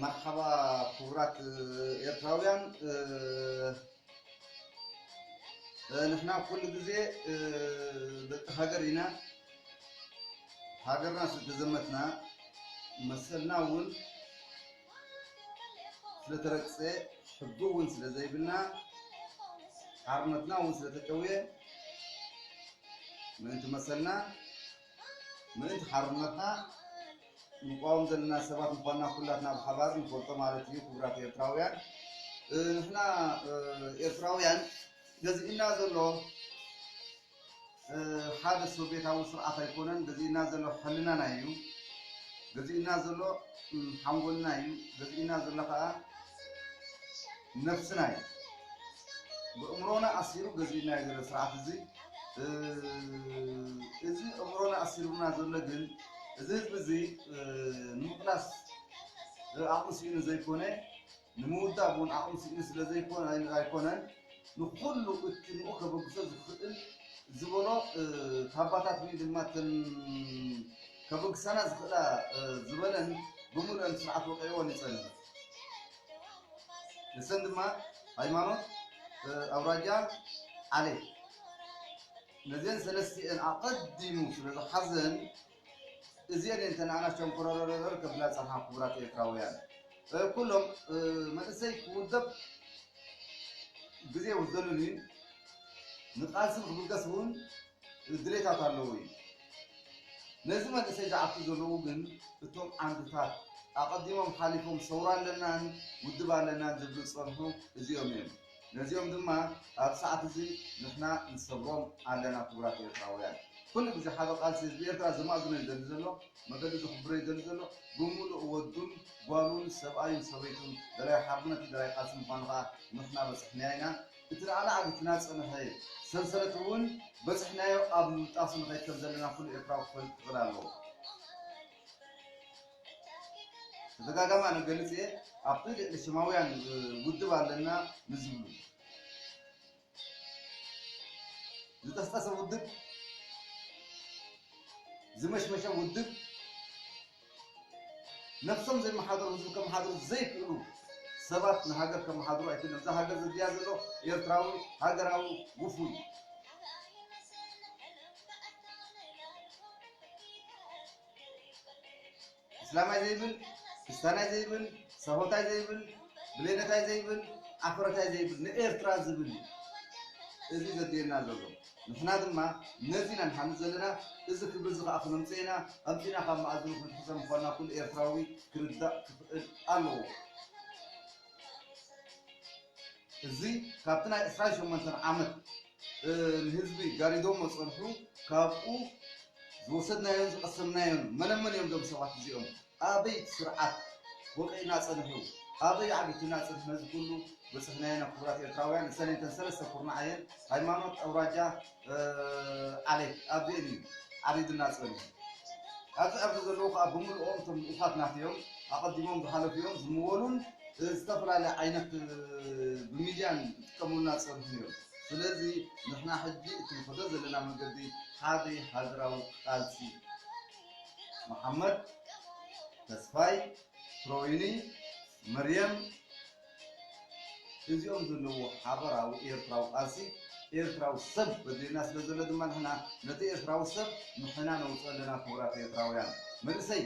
መርሓባ ኩቡራት ኤርትራውያን ንሕና ኩሉ ግዜ ደቂ ሃገር ኢና ሃገርና ስለተዘመትና መሰልና እውን ስለተረግፀ ሕጊ እውን ስለዘይብልና ሓርነትና እውን ስለተጨውየ ምእንቲ መሰልና ምእንቲ ሓርነትና ንቋወም ዘለና ሰባት ምኳንና ኩላትና ብሓባር ንፈልጦ ማለት እዩ ክቡራት ኤርትራውያን ንሕና ኤርትራውያን ገዚእና ዘሎ ሓደ ሶቬታዊ ስርዓት ኣይኮነን ገዚእና ዘሎ ሕልናና እዩ ገዚእና ዘሎ ሓንጎልና እዩ ገዚእና ዘሎ ከዓ ነብስና እዩ ብእምሮና ኣሲሩ ገዚኡና እዩ ዘሎ ስርዓት እዚ እዚ እምሮና ኣሲሩና ዘሎ ግን እዚ ህዝቢ እዚ ንምቕላስ ዓቕሚ ስኢኑ ዘይኮነ ንምውዳብ እውን ዓቕሚ ስኢኑ ስለ ኣይኮነን ንኩሉ እቲ ንኡ ከበግሶ ዝኽእል ዝበሎ ታባታት ወይ ድማ ተን ከበግሳና ዝኽእላ ዝበለን ብምሉእን ስርዓት ወቀይዎን ይፀንሕ ንሰን ድማ ሃይማኖት ኣውራጃ ዓሌት ነዘን ሰለስቲኤን ኣቐዲሙ ስለ ዝሓዘን እዚኤን እየን እተን ኣናሽተን ኮረረረረ ከብላ ዝጸንሓ ክቡራት ኤርትራውያን ኩሎም መንእሰይ ክውደብ ግዜ ውዘሉን እዩ ንቃልሲ ንክብገስ እውን ድሌታት ኣለዎ እዩ። ነዚ መንእሰይ ዝዓቱ ዘለዉ ግን እቶም ዓንድታት ኣቐዲሞም ሓሊፎም ሰውራ ኣለናን ውድብ ኣለናን ዝብሉ ዝጸንሑ እዚኦም እዮም። ነዚኦም ድማ ኣብዚ ሰዓት እዚ ንሕና ንሰብሮም ኣለና ክቡራት ኤርትራውያን። ኩሉ ግዜ ሓበ ቃልሲ ህዝቢ ኤርትራ ዘማእዝኖ ይደሊ ዘሎ፣ መገዱ ዘኽብሮ ይደሊ ዘሎ፣ ብምሉእ ወዱን ጓሉን ሰብኣዩን ሰበይቱን ደላይ ሓርነት እዩ ደላይ ቃልሲ ምዃኑ ከኣ ንሕና በጽሕናዮ ኢና። እቲ ንዓና ዓጊቱና ዝጸንሐ ሰንሰለት እውን በጺሕናዮ ኣብ ምብጣሱ ንኸይድ ከም ዘለና ኩሉ ኤርትራዊ ክፈልጥ ክኽእል ኣለዎ። ተደጋጋሚ ኣነ እገልጽ እየ ኣብቲ ልዕሊ ሽማውያን ውድብ ኣለና ንዝብሉ ዝጠስጠሰ ውድብ ዝመሽመሸ ውድብ ነብሶም ዘይመሓደሩ ህዝቢ ከመሓድሩ ዘይክእሉ ሰባት ንሃገር ከመሓድሩ ኣይክእልን እዛ ሃገር ዘድልያ ዘሎ ኤርትራዊ ሃገራዊ ውፉይ እስላማይ ዘይብል ክስታናይ ዘይብል ሰሆታይ ዘይብል ብሌነታይ ዘይብል ኣፍረታይ ዘይብል ንኤርትራ ዝብል እዩ እዚ ዘድልየና ዘሎ ንሕና ድማ ነዚ ኢና ንሓልም ዘለና፣ እዚ ክብሪ እዚ ከኣ ክነምጽኦ ኢና፣ ኣምጺእና ካብ መኣዝኑ ክንሕዞ ምዃንና ኩሉ ኤርትራዊ ክርዳእ ክኽእል ኣለዎ። እዚ ካብቲ ናይ ዕስራን ሸሞንተን ዓመት ንህዝቢ ጋሪዶሞ ጸንሑ ካብኡ ዝወሰድናዮን ዝቐሰምናዮን መነመን እዮም እዞም ሰባት እዚኦም? ኣበይ ስርዓት ወቂዕና ጸንሑ ኣበይ ዓጊቱና ጽንሑ ነዚ ኩሉ በጽሕናዮ ኢና ክቡራት ኤርትራውያን እሰን እተን ሰለስተ ኩርናዕ እየን ሃይማኖት ኣውራጃ ዓሌት ኣብዚኤን እዩ ዓሪዱና ጸንሑ ኣብዚ ኣብዚ ዘለዉ ከዓ ብምልኦም እቶም ልኡኻት ናተዮም ኣቐዲሞም ዝሓለፉ እዮም ዝምወሉን ዝተፈላለየ ዓይነት ብሚድያን ዝጥቀሙልና ዝጸንሑ እዮም ስለዚ ንሕና ሕጂ እቲ ንኸዶ ዘለና መንገዲ ሓደ ሃገራዊ ቃልሲ መሓመድ ተስፋይ ትሮይኒ መርየም እዚኦም ዘለዎ ሓበራዊ ኤርትራዊ ቃልሲ ኤርትራዊ ሰብ በድልየና ስለ ዘሎ ድማ ንሕና ነቲ ኤርትራዊ ሰብ ንሕና ነውፅኦ ኣለና ክቡራት ኤርትራውያን መንእሰይ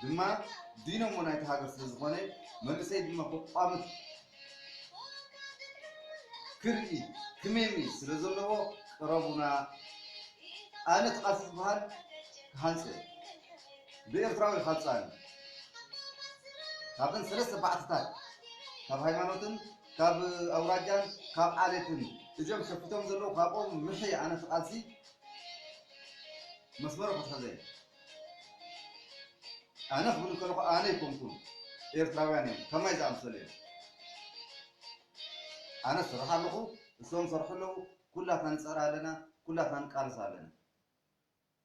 ድማ ዲኖሞ ናይቲ ሃገር ስለ ዝኾነ መንእሰይ ድማ ክቋምት ክርኢ ክሜሪ ስለ ዘለዎ ቅረቡና ኣነ ትቃልስ ዝበሃል ክሃንጽ እየ ብኤርትራዊ ሓጻን ካብን ሰለስተ ባዕትታት ካብ ሃይማኖትን ካብ ኣውራጃን ካብ ዓሌትን እዚኦም ሸፊቶም ዘለዉ ካብኦም ምሒ ኣነ ትቃልሲ መስመሩ ክትሕዘ ኣነ ክብል ከለኹ ኣነ ኣይኮንኩን ኤርትራውያን እዮም ከማይ ዝኣምሰሉ እዮም ኣነ ስራሕ ኣለኹ እሶም ሰርሑ ኣለዉ ኩላትና ንፅዕር ኣለና ኩላትና ንቃልስ ኣለና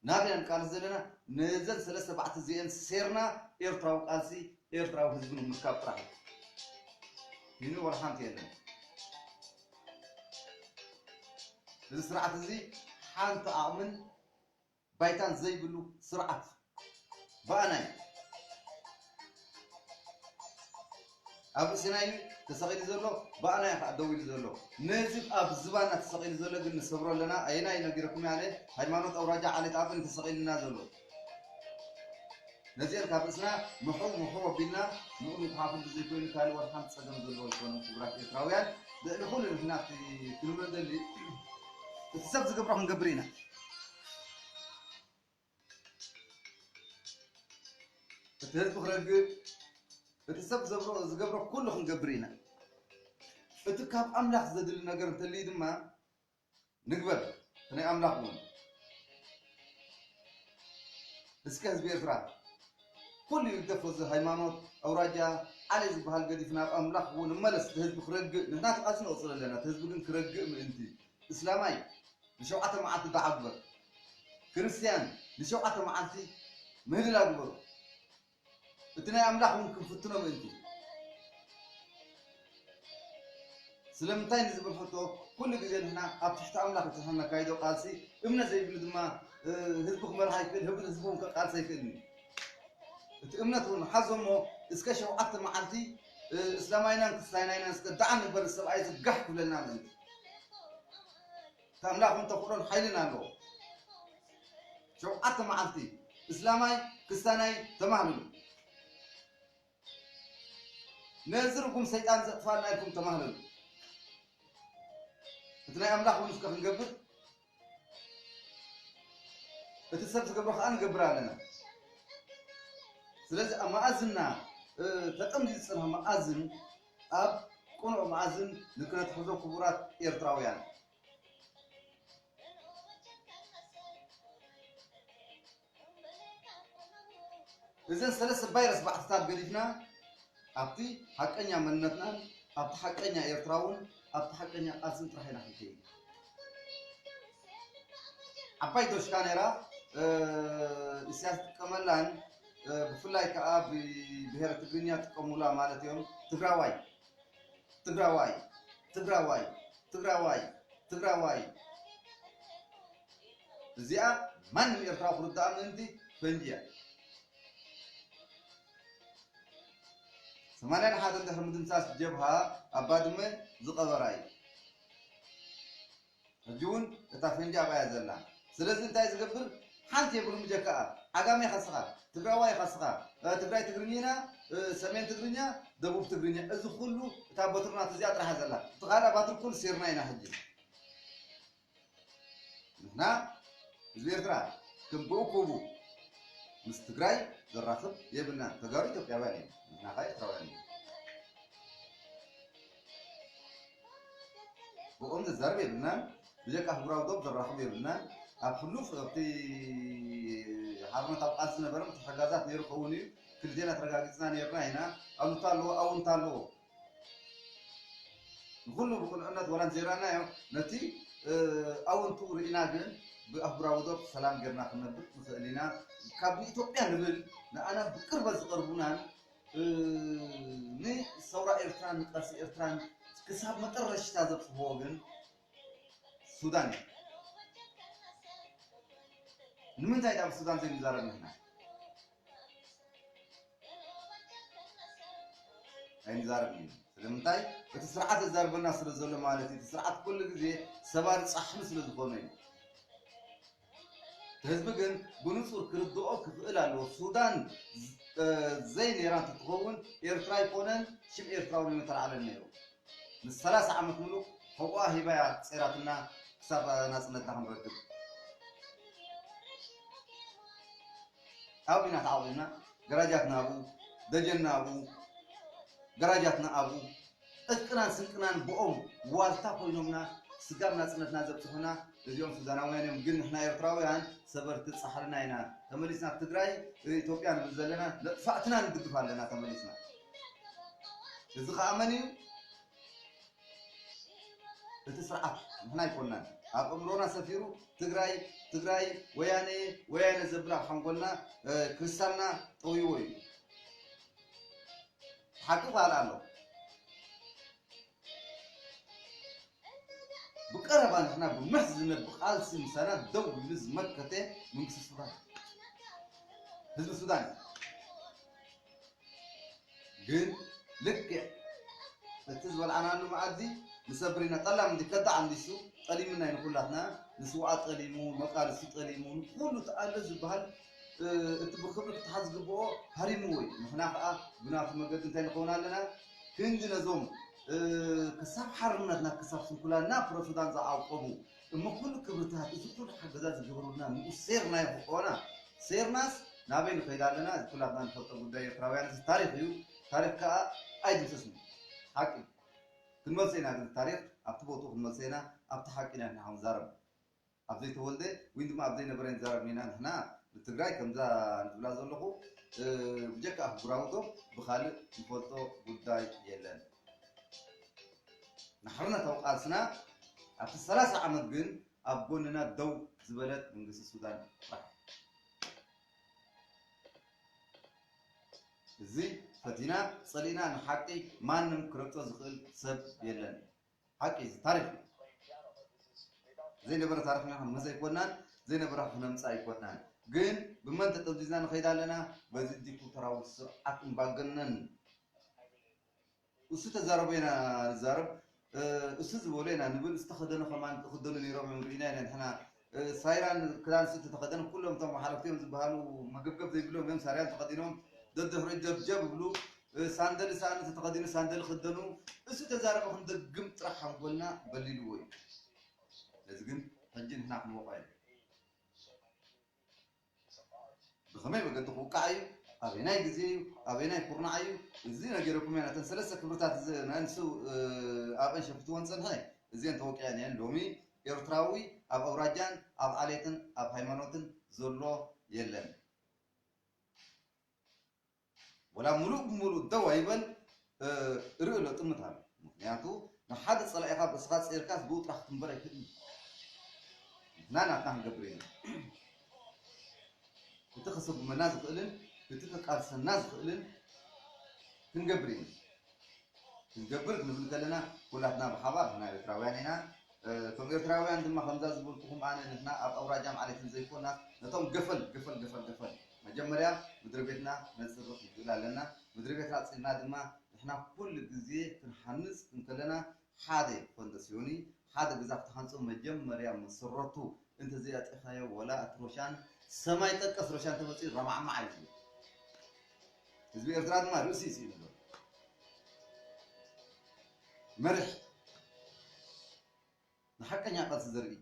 ናበይ ኢና ንቃልስ ዘለና ነዘን ሰለስተ ባዕቲ እዚአን ሴርና ኤርትራዊ ቃልሲ ኤርትራዊ ህዝቢ ንምርካብ ጥራሕ እዩ ይህን ወላ ሓንቲ የለን እዚ ስርዓት እዚ ሓንቲ ዓቕምን ባይታ ዘይብሉ ስርዓት ብኣናይ ኣብ ርእሲና እዩ ተሰቂሉ ዘሎ ብኣና እዩ ካኣ ደው ኢሉ ዘሎ ነዚ ኣብ ዝባና ተሰቂሉ ዘሎ ግን ንሰብሮ ኣለና ኣየናይ ነጊረኩም እየ ኣነ ሃይማኖት ኣውራጃ ዓሌት ኣበን እዩ ተሰቂሉና ዘሎ ነዚኤን ካብ ርእስና ምሑ ምሑ ኣቢልና ንኡ ምጉሓፉ ብዘይ ኮይኑ ካልእ ወላ ሓንቲ ጸገም ዘለዎ ኣይኮነን ክቡራት ኤርትራውያን ልዕሊ ኩሉ ንሕና እቲ ክንብሎ እንደሊ እቲ ሰብ ዝገብሮ ክንገብር ኢና እቲ ህዝቢ ክረግእ እቲ ሰብ ዘብሮ ዝገብሮ ኩሉ ክንገብር ኢና እቲ ካብ ኣምላኽ ዘድሊ ነገር እንተልዩ ድማ ንግበር እቲ ናይ ኣምላኽ እውን እስከ ህዝቢ ኤርትራ ኩሉ ይግደፎ እዚ ሃይማኖት ኣውራጃ ዓሌ ዝበሃል ገዲፍ ናብ ኣምላኽ እውን እመለስ እቲ ህዝቢ ክረግእ ንሕና ተቓልሲ ነቕፅል ኣለና እቲ ህዝቢ ግን ክረግእ ምእንቲ እስላማይ ንሸውዓተ መዓልቲ ዱዓ ግበር። ክርስትያን ንሸውዓተ መዓልቲ ምህልላ ግበሩ። እቲ ናይ ኣምላኽ እውን ክንፍትኖ ምእንቲ። ስለምንታይ ንዝብል ሕቶ ኩሉ ግዜ ንሕና ኣብ ትሕቲ ኣምላኽ እቲ ንሕና ነካይዶ ቃልሲ እምነት ዘይብሉ ድማ ህዝቢ ክመርሕ ኣይክእል ህብ ህዝቢ እውን ከቃልስ ኣይክእልን እዩ። እቲ እምነት እውን ሓዞ እሞ እስከ ሸውዓተ መዓልቲ እስላማይናን ክርስታይናይናን እስከ ዱዓ ንግበር እዚ ሰብኣይ እዚ ጋሕ ክብለና ምእንቲ። ታምላኽ ውን ተኽእሎን ሓይልን ኣለዎ። ሸውዓተ መዓልቲ እስላማይ ክስታናይ ተማህልሉ። ነዚ ርጉም ሰይጣን ዘጥፋልና ኢልኩም ተማህለሉ። እቲ ናይ ኣምላኽ ውን እስከ ክንገብር እቲ ሰብ ዝገብሮ ከኣ ንገብር ኣለና ስለዚ ኣብ መኣዝና ተጠምዚ ዝጸንሖ መኣዝን ኣብ ቅኑዕ መኣዝን ንክነትሕዞ ክቡራት ኤርትራውያን እዘን ሰለስተ ቫይረስ ባዕትታት ገዲፍና ኣብቲ ሓቀኛ መንነትናን ኣብቲ ሓቀኛ ኤርትራውን ኣብቲ ሓቀኛ ቃልስን ጥራሕ ኢና ክንከይድ ዓባይ ዶሽ ካሜራ ኢሳያስ ጥቀመላን ብፍላይ ከዓ ብብሔረ ትግርኛ ጥቀሙላ ማለት እዮም ትግራዋይ ትግራዋይ ትግራዋይ ትግራዋይ ትግራዋይ እዚኣ ማንም ኤርትራዊ ክርድኣ ምእንቲ ፈንጂ እያ። ሰማንያን ሓደን ድሕሪ ምድምሳስ ጀብሃ ኣብ ባድመ ዝቐበራ እዩ። ሕጂ እውን እታ ፈንጂ ኣብኣ እያ ዘላ። ስለዚ እንታይ ዝገብር ሓንቲ የብሉን ብጀካኣ ዓጋመ ኢኻ ስኻ፣ ትግራዋይ ኢኻ ስኻ፣ ትግራይ ትግርኚና፣ ሰሜን ትግርኛ፣ ደቡብ ትግርኛ እዚ ኩሉ እታ በትሪ ናቱ እዚኣ ጥራሕ እያ ዘላ። እቲ ካልኣ ባትሪ ኩሉ ሲርና ኢና ሕጂ። ንሕና ህዝቢ ኤርትራ ከም ብእኩቡ ምስ ትግራይ ዘራኽብ የብልናን። ተጋሩ ኢትዮጵያውያን እዮም። ንሕና ከኣ ኤርትራውያን ኢና። ብኦም ዘዛርብ የብልናን። ብጀካ ኣህጉራዊ ዶብ ዘራኽብ የብልናን። ኣብ ሕሉፍ ኣብቲ ሓርነታዊ ቃልሲ ዝነበረ ምትሕግጋዛት ነይሩ ክኸውን እዩ። ክልቴና ተረጋጊጽና ነይርና ኢና። ኣሉታ ኣለዎ ኣውንታ ኣለዎ። ንኹሉ ብቕኑዕነት ዋላ እንተዘይረኣናዮ፣ ነቲ ኣወንትኡ ርኢና ግን ብኣህጉራዊ ዶብ ሰላም ጌርና ክንነብር ንኽእል ኢና። ካብ ንኢትዮጵያ ንብል ንኣና ብቅርበት ዝቐርቡናን ንሰውራ ኤርትራን ንቃልሲ ኤርትራን ክሳብ መጠረሽታ ዘብጽሕዎ ግን ሱዳን እዩ። ንምንታይ ድኣ ብሱዳን ዘይንዛረብ ንሕና? ኣይንዛረብን ኢና። ስለምንታይ? እቲ ስርዓት ዘዛርበና ስለ ዘሎ ማለት እዩ። እቲ ስርዓት ኩሉ ግዜ ሰባሪ ጻሕሊ ስለ ዝኾነ እዩ። እቲ ህዝቢ ግን ብንጹር ክርድኦ ክኽእል ኣለዎ። ሱዳን ዘይነይራ እንተትኸውን ኤርትራ ኣይኮነን ሽም ኤርትራውን ኣይምተላዕለን ነይሩ። ንሰላሳ ዓመት ምሉእ ሕቖኣ ሂባ እያ ጸይራትና ክሳብ ናጽነትና ክንረክብ። ኣብ ኹናት ዓውዲና ገራጃትና ኣብኡ፣ ደጀንና ኣብኡ፣ ገራጃትና ኣብኡ፣ ዕጥቅናን ስንቅናን ብኦም ዋልታ ኮይኖምና ስጋብ ናጽነትና ዘብጽሑና እዚኦም ሱዳናውያን እዮም ግን ንሕና ኤርትራውያን ሰበርቲ ጻሕልና ኢና ተመሊስና ትግራይ ኢትዮጵያ ንብል ዘለና ነጥፋዕትና ንድግፍ ኣለና ተመሊስና እዚ ኸኣ መን እዩ እቲ ስርዓት ንሕና ኣይኮናን ኣብ እእምሮና ሰፊሩ ትግራይ ትግራይ ወያነየ ወያነ ዘብል ኣብ ሓንጎልና ክሪስታልና ጠውይዎ እዩ ሓቂ ፋል ኣሎ ብቀረባ ንሕና ብምሕ ዝነብ ቃልሲ ምሳና ደው ኢሉ ዝመከተ መንግስቲ ሱዳን ህዝቢ ሱዳን እዩ ግን ልክዕ እቲ ዝበልዓናሉ መኣዲ ንሰብሪና ጠላም እንዲ ከዳዕ እንዲሱ ጠሊምና እዩ ንኩላትና ንስውኣት ጠሊሙ መቃልሲ ጠሊሙ ንኩሉ እቲ ኣሎ ዝበሃል እቲ ብክብሪ ክትሓዝ ዝግብኦ ሃሪምዎ እዩ ንሕና ከዓ ብናቱ መገዲ እንታይ ንኸውን ኣለና ክንዲ ነዞም ክሳብ ሓርነትና ክሳብ ስንኩላና ፕረሱዳን ዝዓቆቡ እሞ ኩሉ ክብርታት እዚ ኩሉ ሓገዛት ዝገበሩልና ንኡ ሴርና ኢኹ ኦና ሴርናስ ናበይ ንኸይድ ኣለና እዚ ኩላትና ንፈልጦ ጉዳይ ኤርትራውያን እዚ ታሪኽ እዩ ታሪኽ ከኣ ኣይድምሰስን ሓቂ እዩ ክንመልሶ ኢና ግን ታሪኽ ኣብቲ ቦትኡ ክንመልሶ ኢና ኣብቲ ሓቂ ኢና ንሕና ክንዛረብ ኣብ ዘይተወልደ ወይ ድማ ኣብ ዘይነበረ ንዛረብ ኢና ንሕና ንትግራይ ከምዛ ንብላ ዘለኹ ብጀካ ኣህጉራዊ ዶብ ብኻልእ ንፈልጦ ጉዳይ የለን ንሓርነታዊ ቃልስና ኣብቲ ሰላሳ ዓመት ግን ኣብ ጎንና ደው ዝበለት መንግስቲ ሱዳን ጥራሕ እያ። እዚ ፈቲና ጸሊእና ንሓቂ ማንም ክረግጾ ዝኽእል ሰብ የለን። ሓቂ እዩ እዚ ታሪኽ እዩ። ዘይነበረ ታሪኽና ክንምህዝ ኣይኮናን፣ ዘይነበረ ክነምጽእ ኣይኮናን። ግን ብመን ተጠምዚዝና ንኸይድ ኣለና? በዚ ዲክታቶራዊ ስርዓት እምባገነን እሱ ተዛረቦ ኢና ንዛረብ እሱ ዝበሎ ኢና ንብል ዝተኸደኑ ከማን ክኽደኑ ነይሮም እዮም ርኢና ኢና ንሕና ሳይራን ክዳን እሱ ተተኸደኑ ኩሎም እቶም ሓለፍቲ እዮም ዝበሃሉ መገብገብ ዘይብሎም እዮም ሳርያን ተኸዲኖም ደድሕሪ ጀብጀብ ይብሉ ሳንደል ሳእኒ ተተኸዲኑ ሳንደል ክደኑ እሱ ተዛረቦ ክንደግም ጥራሕ ሓንጎልና በሊልዎ እዩ ነዚ ግን ሕጂ ንሕና ክንወቕዖ ኢና ብኸመይ መገዲ ክውቃዕ እዩ? ኣበየናይ ግዜ እዩ? ኣበየናይ ኩርናዕ እዩ? እዚ ነጊረኩም እየ፣ ነተን ሰለስተ ክብርታት እዚኣን ንሱ ኣብአን ሸፊትወን ዝጸንሐ፣ እዚኤን ተወቂዐን እየን፣ ሎሚ ኤርትራዊ ኣብ ኣውራጃን ኣብ ዓሌትን ኣብ ሃይማኖትን ዘሎ የለን። ወላ ሙሉእ ብሙሉእ ደው ኣይበል እርኢ ኣሎ ጥምት ኣሎ ምኽንያቱ ንሓደ ጸላኢኻ ርእስኻ ጸይርካስ ብኡ ጥራሕ ክትንበር ኣይክእልን ንሕና ናትና ክንገብር ኢና እቲ ከሰጉመና ዝኽእልን እቲ ከቃልሰና ዝኽእልን ክንገብር ኢና ክንገብር ክንብል ከለና ኩላትና ብሓባር ንሕና ኤርትራውያን ኢና እቶም ኤርትራውያን ድማ ከምዛ ዝበልኩኹም ኣነ ንሕና ኣብ ኣውራጃም ዓሌትን ዘይኮናስ ነቶም ገፈል ገፈል ገፈል ገፈል መጀመርያ ምድሪቤትና ነጽሪ ክንክእል ኣለና ምድሪቤትና ኣጽሪና ድማ ንሕና ኩሉ ግዜ ክንሃንጽ እንከለና ሓደ ፎንደስዮኒ ሓደ ገዛ ክትሃንጾ መጀመርያ መሰረቱ እንተዘይ ኣጥሪካዮ ወላ እቲ ሮሻን ሰማይ ጠቀስ ሮሻን ተመጽዩ ረማዕማዕ እዩ ዝብል ህዝቢ ኤርትራ ድማ ርእሲ ይስኢኑ ዘሎ መሪሕ ንሓቀኛ ቃልሲ ዘርኢ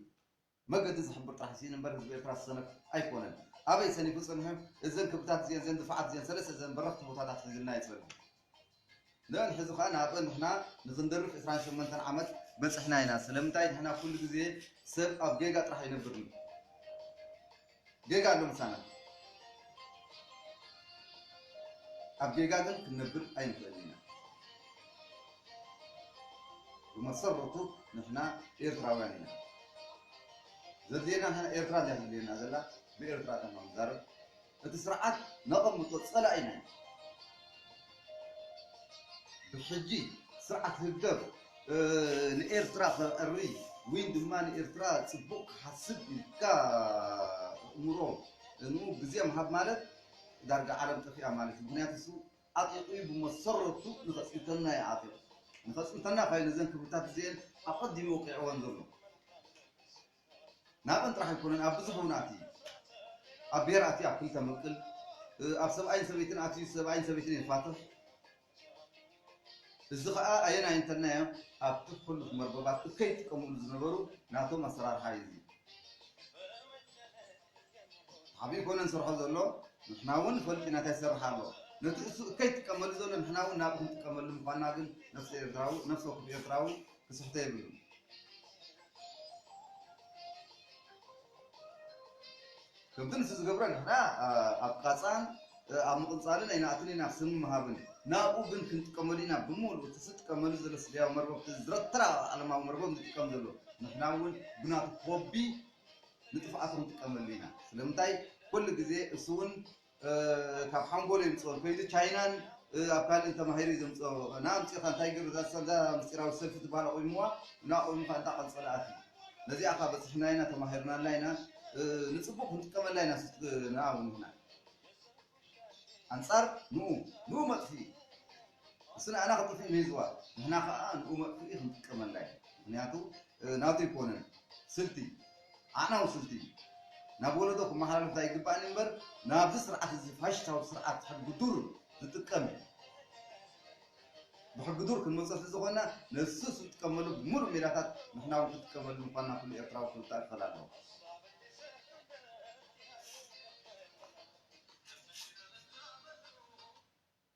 መገዲ ዝሕብር ጥራሕ ስኢኑ እምበር ህዝቢ ኤርትራ ዝሰነፍ ኣይኮነን። ኣበይ ሰኒፉ ጸኒሑ እዘን ክብታት እዚኤን እዘን ድፋዓት እዚኤን ሰለስተ እዘን በረኽቲ ቦታታት ሒዙልና እዩ ጸኒሑ። ንእን ሕዚ ከኣ ናብእን ንሕና ንኽንደርፍ ዕስራን ሸሞንተን ዓመት በጽሕና ኢና። ስለምንታይ ንሕና ኩሉ ግዜ ሰብ ኣብ ጌጋ ጥራሕ ኣይነብርን። ጌጋ ኣሎ ምሳና ኣብ ጌጋ ግን ክንነብር ኣይንኽእልን ኢና ብመሰረቱ ንሕና ኤርትራውያን ኢና ዘድልየና ንሕና ኤርትራ እያ ዘድልየና ዘላ ብኤርትራ ተማም ዛረብ እቲ ስርዓት ነቐምጦ ጸላኢና እዩ ብሕጂ ስርዓት ህግደፍ ንኤርትራ ከዕሪ ዊን ድማ ንኤርትራ ጽቡቅ ክሓስብ ኢልካ እእምሮ ን ግዜ ምሃብ ማለት ዳርጋ ዓለም ጠፊኣ ማለት ኢዩ ምክንያቱ እሱ ዓጢቁ ኢዩ ብመሰረቱ ንከጽንተና ኢዩ ዓጢቁ ንከጽንተና ካዩ ነዘን ክብርታት እዚኤን ኣቀዲሙ ወቂዕወን ዘሎ ናቕን ጥራሕ ኣይኮነን ኣብ ብዙሕ እውን ኣትዩ እዩ። ኣብ ብሄር ኣትዩ ኣብ ክልተ ምቕል፣ ኣብ ሰብኣይን ሰበይትን ኣትዩ ሰብኣይን ሰበይትን የፋትሕ። እዚ ኸኣ ኣየናይ እንተልናዮ ኣብቲ ሕሉፍ መርበባት እከይ ይጥቀምሉ ዝነበሩ ናቶም ኣሰራርሓ እዩ እዚ። ተሓቢኡ ኮነ ዝሰርሖ ዘሎ ንሕና እውን ንፈልጥ ኢና እንታይ ይሰርሕ ኣሎ። ነቲ እሱ እከይ ይጥቀመሉ ዘሎ ንሕና እውን ናብኡ ክንጥቀመሉ ምዃንና ግን ነፍሲ ኤርትራዊ ነፍሲ ወከፍ ኤርትራዊ ክስሕቶ የብሉን። ከምቲ ንሱ ዝገብሮ ንሕና ኣብ ቃጻን ኣብ ምቕንጻልን ኣይንኣትን ኢና፣ ስም ምሃብን ናብኡ ግን ክንጥቀመሉ ኢና፣ ብምሉኡ እቲ ዝጥቀመሉ ዘሎ ስጋያዊ መርበብ እቲ ዝረተራ ዓለማዊ መርበብ ዝጥቀም ዘሎ ንሕና እውን ብናቱ ኮቢ ንጥፍኣቱ ክንጥቀመሉ ኢና፣ ስለምንታይ ኮሉ ግዜ እሱ እውን ካብ ሓንጎሉ የምጽኦ እንኮይሉ ቻይናን ኣብ ካልእን ተማሂሩ ዘምጽኦ እና ኣምጺኻ እንታይ ገሩ እዛ ሰልዛ ምስጢራዊ ሰልፊ ትበሃል ኣቑሙዋ እና ኣቑሙ ከኣ እንዳ ቀንጸለ ኣትዩ ነዚኣ ከኣ በጺሕና ኢና ተማሂርናላ ኢና ንጽቡቕ ክንጥቀመላ ኢና ስትና እውን ኢና ኣንጻር ንኡ ንኡ መጥፊኢ እሱ ንኣና ክጥፍእ መይዝዋ ንሕና ክኣ ንኡ መጥፍኢ ክንጥቀመላ ኢና ምክንያቱ ናቱ ኣይኮነን ስልቲ ኣዕናዊ ስልቲ እዩ ናብ ወለዶ ክመሓላለፍ ኣይግባእን እዩ እምበር ናብዚ ስርዓት እዚ ፋሽታዊ ስርዓት ሕጊ ዱር ዝጥቀም እዩ ብሕጊ ዱር ክንመጾ ስለዝኾና ነሱ ዝጥቀመሉ ብምሉእ ሜላታት ንሕና እውን ክንጥቀመሉ ምኳንና ኩሉ ኤርትራዊ ክርዳእ ክኸል ኣለዎ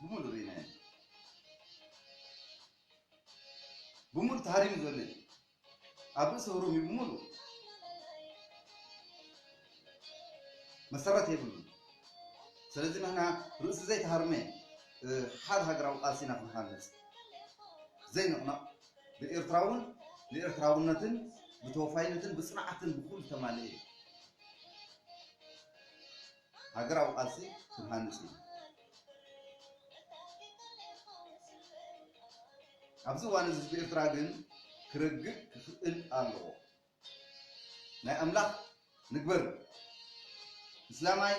ብሙሉ ሪኢናዮ ኢና ብሙሉ ተሃሪሙ ዘሎ እዩ ኣብ ርእሲ ኦሮሚዩ ብሙሉ መሰረት የብሉን ስለዚ ንሕና ርእሲ ዘይተሃርመ ሓደ ሃገራዊ ቃልሲ ኢና ክንሃንፅ ዘይንቕነቕ ብኤርትራውን ብኤርትራውነትን ብተወፋይነትን ብፅንዓትን ብኩሉ ተማልኤ እዩ ሃገራዊ ቃልሲ ክንሃንጽ ኢና። ኣብዚ እዋን እዚ ህዝቢ ኤርትራ ግን ክረግእ ክኽእል ኣለዎ። ናይ ኣምላኽ ንግበር እስላማይ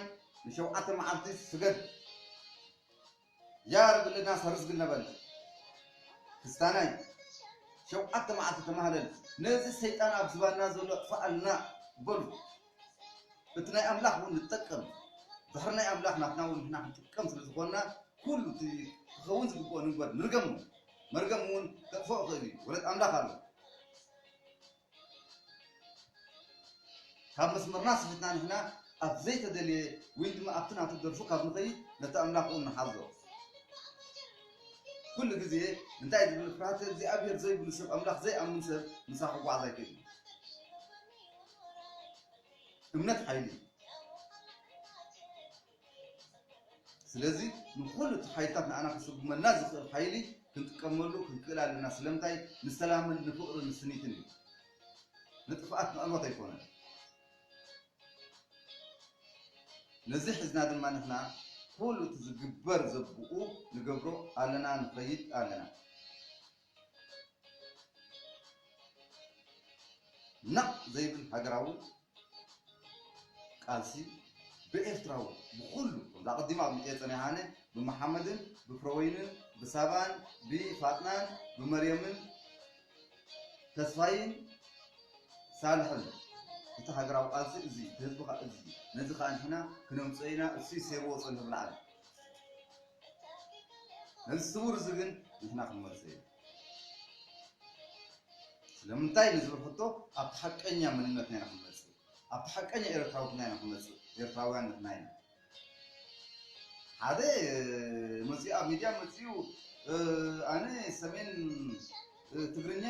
ንሸውዓተ መዓልቲ ስገድ ጃር ብልና ሰርስግል ነበል ክስታናይ ሸውዓተ መዓልቲ ተማህለል ነዚ ሰይጣን ኣብ ዝባንና ዘሎ ኣጥፍኣልና በሉ እቲ ናይ ኣምላኽ እውን ንጠቀም ድሕሪ ናይ ኣምላኽ ናትና እውን ንሕና ክንጥቀም ስለ ዝኾንና ኩሉ እቲ ክኸውን ዝግብኦ ንግበር ንርገሙ መርገም እውን ከጥፍኦ ይኽእል እዩ ወለት ኣምላኽ ኣሎ ካብ መስመርና ስሒትና ንሕና ኣብ ዘይተደልየ ወይ ድማ ኣብቲ ናቱ ደርፉ ካብ ንኸይድ ነቲ ኣምላኽ ውን ንሓዞ ኩሉ ግዜ እንታይ ዝብል ፍርሃተ እግዚኣብሄር ዘይብሉ ሰብ ኣምላኽ ዘይኣምን ሰብ ምሳ ክጓዓዝ ኣይክእልን እዩ እምነት ሓይሊ እዩ ስለዚ ንኹሉ እቲ ሓይልታት ንኣና ክስጉመና ዝኽእል ሓይሊ ክንጥቀመሉ ክንክእል ኣለና ስለምንታይ ንሰላምን ንፍቕርን ንስኒትን እዩ ንጥፍኣት ንዕወት ኣይኮነን ነዚ ሕዝና ድማ ንሕና ኩሉ እቲ ዝግበር ዘብኡ ንገብሮ ኣለና ንኸይድ ኣለና ናቕ ዘይብል ሃገራዊ ቃልሲ ብኤርትራዊ ብኹሉ ከምዚ ኣቐዲሙ ኣብ ኤጸን የሃነ ብመሓመድን ብፍረወይንን ብሳባን ብፋጥናን ብመርየምን ተስፋይን ሳልሕን እቲ ሃገራዊ ቃልሲ እዚ እቲ ህዝቢ እዚ ነዚ ከኣ ንሕና ክነምጽኦ ኢና እሱይ ሴርዎ ጸኒሑ ብላዕሊ ነዚ ስውር እዚ ግን ንሕና ክንመልሶ ኢና። ስለምንታይ ንዝብል ሕቶ ኣብቲ ሓቀኛ መንነትና ኢና ክንመጽእ፣ ኣብቲ ሓቀኛ ኤርትራውትና ኢና ክንመጽእ፣ ኤርትራውያን ንሕና ኢና። ሓደ መጺኡ ኣብ ሚድያ መጺኡ ኣነ ሰሜን ትግርኛ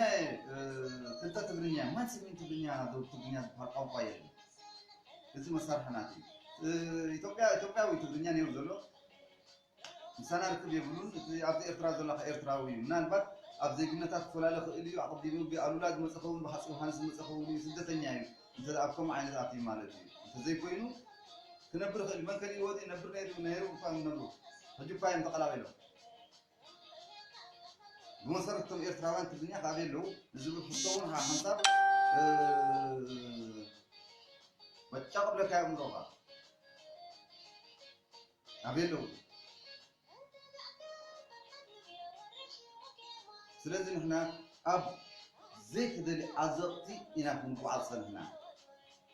ክልተ ትግርኛ ማን ስሚን ትግርኛ ዶ ትግርኛ ዝበሃል ቋንቋ የለን እዚ መሳርሕናት እዩ ኢትዮጵያ ኢትዮጵያዊ ትግርኛ ነይሩ ዘሎ ምሳና ርክብ የብሉን እቲ ኣብዚ ኤርትራ ዘሎ ከኣ ኤርትራዊ እዩ ምናልባት ኣብ ዜግነታት ክፈላለ ይኽእል እዩ ኣቕዲሙ ብ ኣሉላ ዝመጸ ኸውን ብ ሃጺ ዮውሃንስ ዝመጸ ኸውን እዩ ስደተኛ እዩ እንተ ኣብ ከምኡ ዓይነት ኣትዩ ማለት እዩ እንተ ዘይኮይኑ ክነብር ይኽእል እዩ መን ከሊእዎ ድዩ ይነብር ነይሩ ነይሩ እኳ ይነብሩ ሕጂ እኳ እዮም ተቐላቒሎም ብመሰረት እቶም ኤርትራውያን ትግርኛ ካበይ ኣለዉ ንዝብል ሕቶ እውን ሓንሳብ በጫ ቅብለካ የእምሮኻ ካበይ ኣለዉ ስለዚ ንሕና ኣብ ዘይተደልየ ዓዘቕቲ ኢና ክንጓዓዝ ጸኒሕና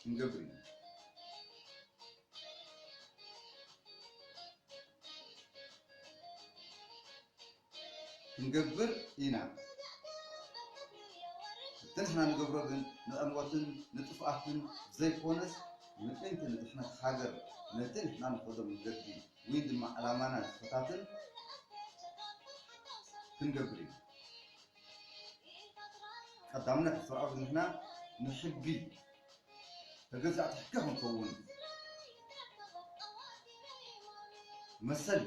ክንገብር ኢና። ክንገብር ኢና። እቲ ንሕና ንገብሮ ግን ንዕንወትን ንጥፍኣትን ዘይኮነስ ምእንቲ ንድሕነት ሃገር ነቲ ንሕና ንኸዶ መገዲ ወይ ድማ ዕላማና ዝፈታትን ክንገብር ኢና። ቀዳምነት ብሰብኣዊ ዝምድና ንሕጊ ተገዛእቲ ሕጊ ክንከውን መሰል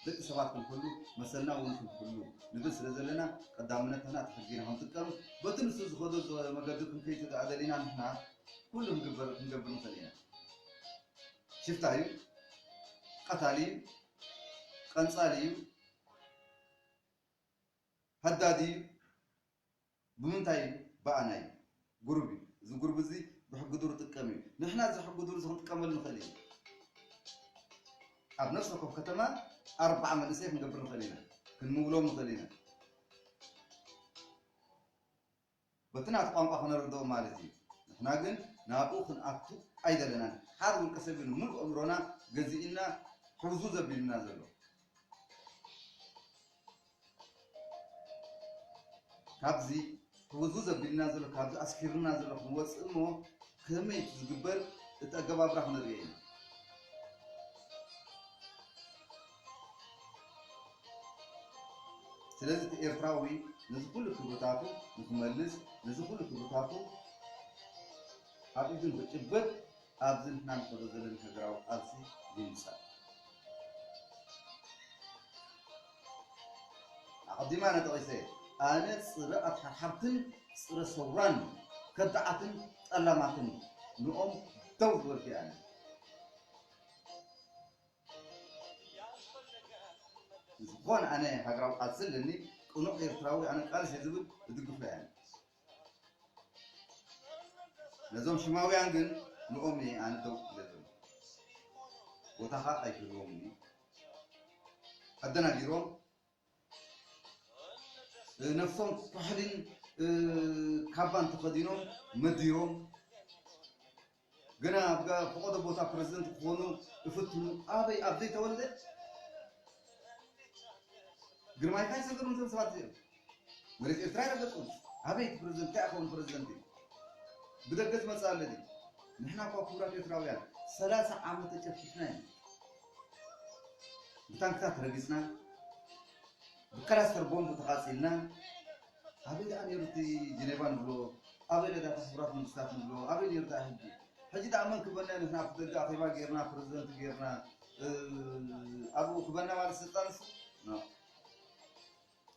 ደቂ ሰባት ክንሕሉ መሰልና እውን ክንሕሉ ንብል ስለ ዘለና ቀዳምነት ንሕና እቲ ሕጊ ኢና ክንጥቀም በቲ ንሱ ዝኸዶ መገዲ ክንከይድ ስድኣ ደሊና ንሕና ኩሉ ክንግበር ክንገብር ንኽእል ኢና ሽፍታ እዩ ቀታሊ እዩ ቀንፃሊ እዩ ሃዳድ እዩ ብምንታይ እዩ ባኣ ናይ ጉርብ እዩ እዚ ጉርብ እዚ ብሕጊ ዱር ጥቀም እዩ ንሕና እዚ ሕጊ ዱር እዚ ክንጥቀመሉ ንክእል ኢና ኣብ ነፍሲ ወከፍ ከተማ ኣርባዓ መንእሰይ ክንገብር ንክእል ኢና ክንምውሎም ንክእል ኢና በቲ ናቱ ቋንቋ ክነርድኦ ማለት እዩ ንሕና ግን ናብኡ ክንኣቱ ኣይደለናን ሓድ ውልቀ ሰብ እዩ ንምሉእ ኣእምሮና ገዚእና ሕውዝውዝ ኣቢሉና ዘሎ ካብዚ ሕውዝውዝ ኣቢሉና ዘሎ ካብዚ ኣስኪሩና ዘሎ ክንወፅእ እሞ ከመይ ዝግበር እቲ ኣገባብራ ክንርእዮ ኢና ስለዚ እቲ ኤርትራዊ ነዚ ኩሉ ክብርታቱ ንክመልስ ነዚ ኩሉ ክብርታቱ ኣብ ኢዱ ንክጭብጥ ኣብዚ ንሕና ንኸዶ ዘለና ሃገራዊ ቃልሲ ይምጸእ። ኣቐዲመ ኣነ ጠቒሰ ኣነ ጽረ ኣትሓርሓርትን ጽረ ሰውራን ከዳዓትን ጠላማትን ንኦም ደው ዝበልኩ እየ ኣነ። ብዝኮነ ኣነ ሃገራዊ ቃልሲ ኣለኒ ቅኑዕ ኤርትራዊ ኣነ ቃልስ እየ ዝብል እድግፎ እየ ኣነ ነዞም ሽማውያን ግን ንኦም እየ ኣነ ደው ኢለ ዘሎ ቦታካ ኣይክህልዎምን እዩ ኣደናጊሮም ነብሶም ኩሕሊን ካባን ተኸዲኖም መዲሮም ግና ኣብ ፈቐዶ ቦታ ፕረዚደንት ክኾኑ እፍትኑ ኣበይ ኣብ ዘይተወልደ ግርማይ እንታይ ሰገሩም እዞም ሰባት እዚኦም መሬት ኤርትራ ይረገጹም ኣበይ እቲ ፕረዚደንት እንታይ ክኸውን ፕረዚደንት እዩ ብደገ ዝመጽእ ኣለኒ ንሕና እኳ ክቡራት ኤርትራውያን ሰላሳ ዓመት ተጨፍጭፍና ኢና ብታንክታት ረጊጽና ብከላስተር ቦምብ ተቓጺልና ኣበይ ደኣ ነይሩ እቲ ጀኔቫ ንብሎ ኣበይ ነዳ እቲ ሕቡራት መንግስታት ንብሎ ኣበይ ነይሩ ደኣ ሕጂ ሕጂ ደኣ መን ክበና ንሕና ኣብቲ ደገ ኣኼባ ጌርና ፕረዚደንት ጌርና ኣብኡ ክበና ማለት ስልጣን እሱ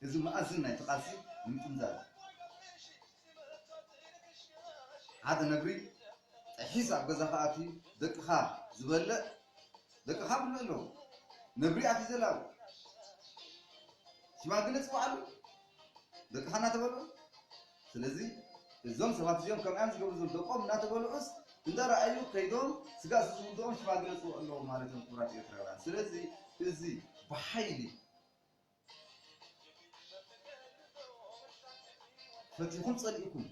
እዚ መኣዝን ናይቲ ቃልሲ ንምጥምዛዝ እዩ። ሓደ ነብሪ ጠሒስ ኣብ ገዛኻ ኣትዩ ደቅኻ ዝበልዕ ደቅኻ ኣብልዑ ኣለዉ። ነብሪ ኣትዩ ዘላዊ ሽማግለ ጽውዓሉ ደቅኻ እናተበልዑ። ስለዚ እዞም ሰባት እዚኦም ከምይ እዮም ዝገብሩ ዘለዉ ደቆም እናተበልዑስ እንዳረኣዩ ከይዶም ስጋእ ስዝውድኦም ሽማግለ ጽውዑ ኣለዎም ማለት እዮም ክቡራት ኤርትራውያን። ስለዚ እዚ ብሓይሊ ፈቲኹም ጸሊእኩም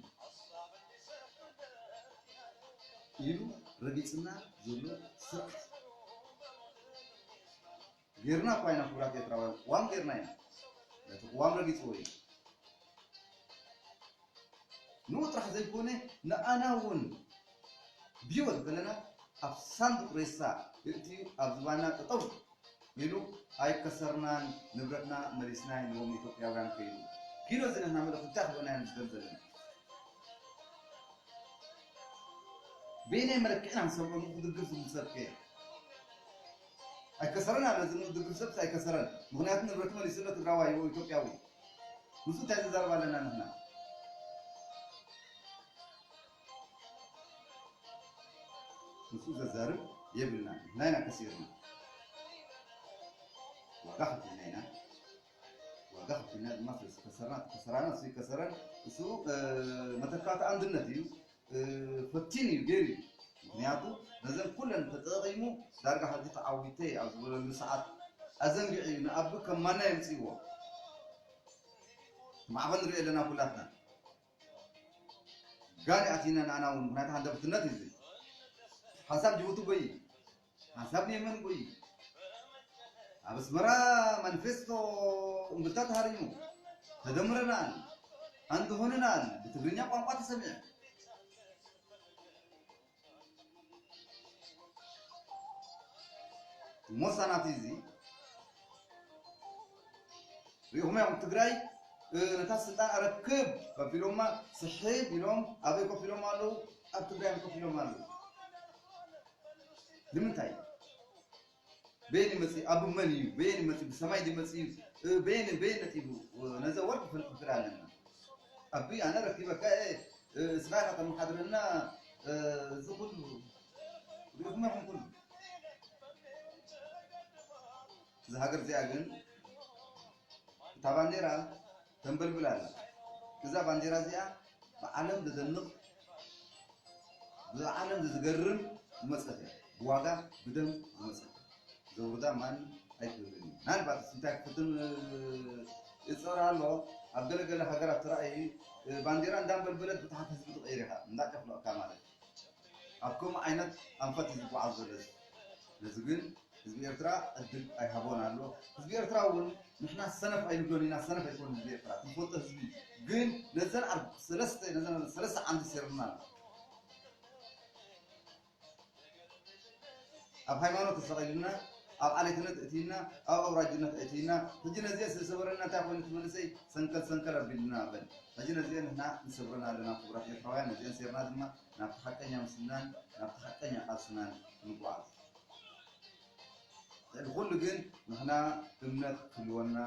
ኢሉ ረጊጽና ዘሎ ስርዓት ጌርና እኳ ኢና ክቡራት ኤርትራውያን ቅዋም ጌርና ኢና ነቲ ቅዋም ረጊጽዎ እዩ ንኡ ጥራሕ ዘይኮነ ንኣና እውን ብሂወት እንተለና ኣብ ሳንዱቅ ሬሳ የእትዩ ኣብ ዝባንና ጠጠው ኢሉ ኣይከሰርናን ንብረትና መሊስናይ ንቦም ኢትዮጵያውያን ከይዱ ኪኖ እዚ ንሕና ምልእክቲ እንታይ ክበናዮም ንዝደሊ ዘለና በየናይ መለክዒ ኢና ክንሰምዖ ንኡ ክድግፍ ዝብል ሰብ ከ። ኣይከሰረን ኣበ ዝምእ ድግፍ ሰብስ ኣይከሰረን ምክንያቱ ንብረቱ መሊሱ ኣሎ ትግራዋይ ኦው ኢትዮጵያዊ ምስኡ ታይ ዘዛርብ ኣለና ንሕና። ምስኡ ዘዛርብ የብልናን ንሕና ኢና ከሲርና ዋጋ ከፊልና ኢና ዋጋ ከፊልና ድማ ስለዝከሰርና እቲ ከሰራና እሱ ይከሰረን እሱ መተካእታ ኣንድነት እዩ ፈቲኑ እዩ ገይሩ እዩ ምክንያቱ ነዘን ኩለን ተጠቂሙ ዳርጋ ሕጂ ተዓዊተ ኣብ ዝበለሉ ሰዓት ኣዘንጊዑ እዩ ንኣቢ ከም ማና የምፅእዎ ማዕበል ንሪኦ ኣለና ኩላትና ጋን ኣቲና ንኣና እውን ምክንያቱ ሃንደብትነት እዩ ሓንሳብ ጅቡቲ ጎይ ሓንሳብ ንየመን ጕይ፣ ኣብ ኣስመራ ማኒፌስቶ እምብልታ ተሃሪሙ፣ ተደምረናል፣ ሓንቲ ሆነናል ብትግርኛ ቋንቋ ተሰሚዑ። ሞሳ ናቲ እዚ ሪኢኹሞ ኢኹም ትግራይ ነታ ስልጣን ኣረክብ ኣቢሎማ ስሕብ ኢሎም ኣበይ ኮፍ ኢሎም ኣለዉ ኣብ ትግራይ ኮፍ ኢሎም ኣለዉ ንምንታይ እዩ በየን እዩ መፂኡ ኣቡ መን እዩ በየን እዩ መፂኡ ብሰማይ ድዩ መፂኡ እ፣ በየን እዩ በየን ነፂቡ እ፣ ነዛ ወርቂ ክንፍክር ኣለና ኣቢ ኣነ ረኪበካ እየ እ፣ እስኻ ኢኻ ተመሓድረና እ፣ እዚ ኩሉ ሪኢኹም ኢኹም ኩሉ እዛ ሃገር እዚኣ ግን እታ ባንዴራ ተንበልብል ኣላ እዛ ባንዴራ እዚኣ ብዓለም ዘደንቕ ብዓለም ዝገርም ዝመጸት እያ ብዋጋ ብደም ዝመጸት ዘውርዳ ማን ኣይትብልን እዩ ምናልባት እንታይ ክፍትን ይፅዕር ኣሎ ኣብ ገለገለ ሃገራት ትራእይ ባንዴራ እንዳንበልበለት ብታሕቲ ህዝቢ ትቐይር ኢኻ እንዳጨፍለቕካ ማለት ኣብ ከምኡ ዓይነት ኣንፈት እዩ ዝጓዓዝ ዘሎ እዚ ነዚ ግን ህዝቢ ኤርትራ ዕድል ኣይሃቦን ኣሎ ህዝቢ ኤርትራ እውን ንሕና ሰነፍ ኣይንብሎን ኢና ሰነፍ ኣይኮኑን ህዝቢ ኤርትራ እቲ ዝፈልጦ ህዝቢ ግን ነዘን ኣብ ሰለስተ ነዘን ሰለስተ ዓንዲ ሰይርና ኣሎ ኣብ ሃይማኖት ኣሳቂሉና ኣብ ዓሌትነት እእትዩና ኣብ ኣውራጅነት ኣእትዩና ሕጂ ነዚኤ ስለ ሰበረና እንታይ ኮይኑ እቲ መንእሰይ ሰንከል ሰንከል ኣቢሉና በል ሕጂ ነዚኤ ንሕና ንሰብረን ኣለና ክቡራት ኤርትራውያን ነዚኤን ሴርና ድማ ናብቲ ሓቀኛ ምስልናን ናብቲ ሓቀኛ ቃልስናን ክንጓዓዝ ልዕሊ ኩሉ ግን ንሕና እምነት ክህልወና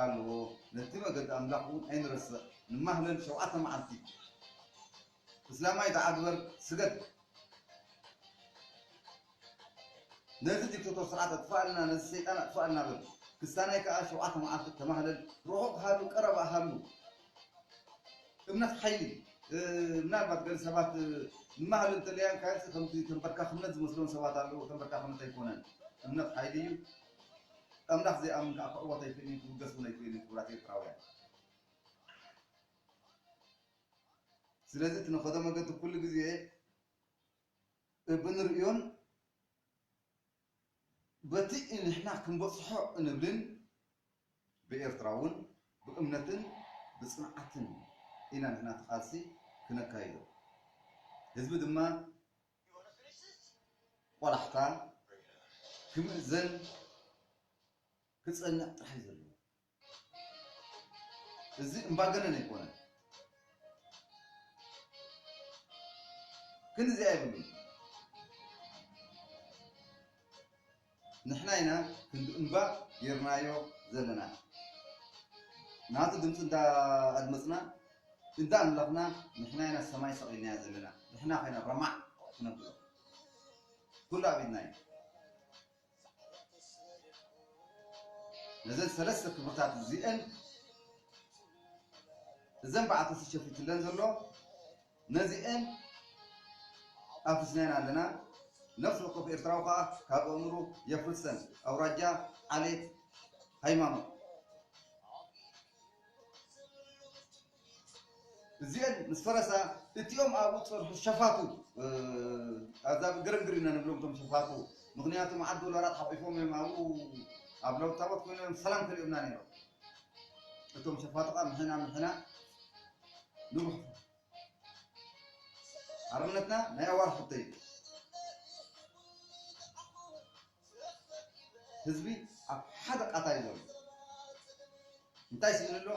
ኣለዎ ነቲ መገዲ ኣምላኽ እውን ኣይንረስዕ ንማህለል ሸውዓተ መዓልቲ እስላማይ ዳኣ ግበር ስገድ ነዚ ዲክተቶር ስርዓት ኣጥፋኣልና ነዚ ሰይጣን ኣጥፋኣልና በል ክስታናይ ካኣ ሸውዓተ ማዓልቲ ተማህለል ሩሑቅ ሃሉ ቀረባ ሃሉ እምነት ሓይሊ ምናልባት ገለ ሰባት ንማህለል እንተለያ ካይሲ ከምቲ ተንበርካክነት ዝመስሎም ሰባት ኣለው ተንበርካክነት ኣይኮነን እምነት ሓይሊ እዩ ኣምላክ ዘይኣምን ካኣ ክዕወት ኣይክእልን ክውገስ ውን ኣይክእልን ክብራት ኤርትራውያን። ስለዚ እቲ ንኸዶ መገዲ ኩሉ ግዜ ብንርእዮን በቲ ንሕና ክንበጽሖ እንብልን ብኤርትራ እውን ብእምነትን ብጽንዓትን ኢና ንሕና እቲ ቃልሲ ክነካይዶ። ህዝቢ ድማ ቆላሕታ ክምእዘን ክጸንዕ ጥራሕ እዩ ዘለዎ። እዚ እምባገነን ኣይኮነን ግን እዚኣ የብሉን ንሕና ኢና ክንዲ እምባ ጌርናዮ ዘለና ናቱ ድምፂ እንዳኣድመፅና እንዳ ኣምለኽና ንሕና ኢና ሰማይ ሰቒልናያ ዘለና ንሕና ኮይና ረማዕ ክነብሎ ኩሉ ኣብ ኢድና እዩ ነዘን ሰለስተ ክብርታት እዚኤን እዘን በዓልቲ እቲ ሸፊትለን ዘሎ ነዚኤን ኣፍሪስናየን ኣለና። ነፍሲ ወከፍ ኤርትራዊ ከኣ ካብ ኣእምሩ የፍርሰን። ኣውራጃ፣ ዓሌት፣ ሃይማኖት። እዚኤን ምስ ፈረሳ እቲኦም ኣብኡ ዝጸንሑ ሸፋቱ ኣዛብእ ግርግር ኢና ንብሎም እቶም ሸፋቱ ምክንያቱ መዓት ዶላራት ሓቂፎም እዮም ኣብኡ ኣብ ለውጥ ታቦት ኮይኖም እዮም ሰላም ከሊኦምና ነይሮም እቶም ሸፋቱ ከዓ ምሕና ምሕና ንሩሑ ሓርነትና ናይ ኣዋርሕ ሕቶ እዩ ህዝቢ ኣብ ሓደ ቃታ እዩ ዘሎ እንታይ ስኢኑ ኣሎ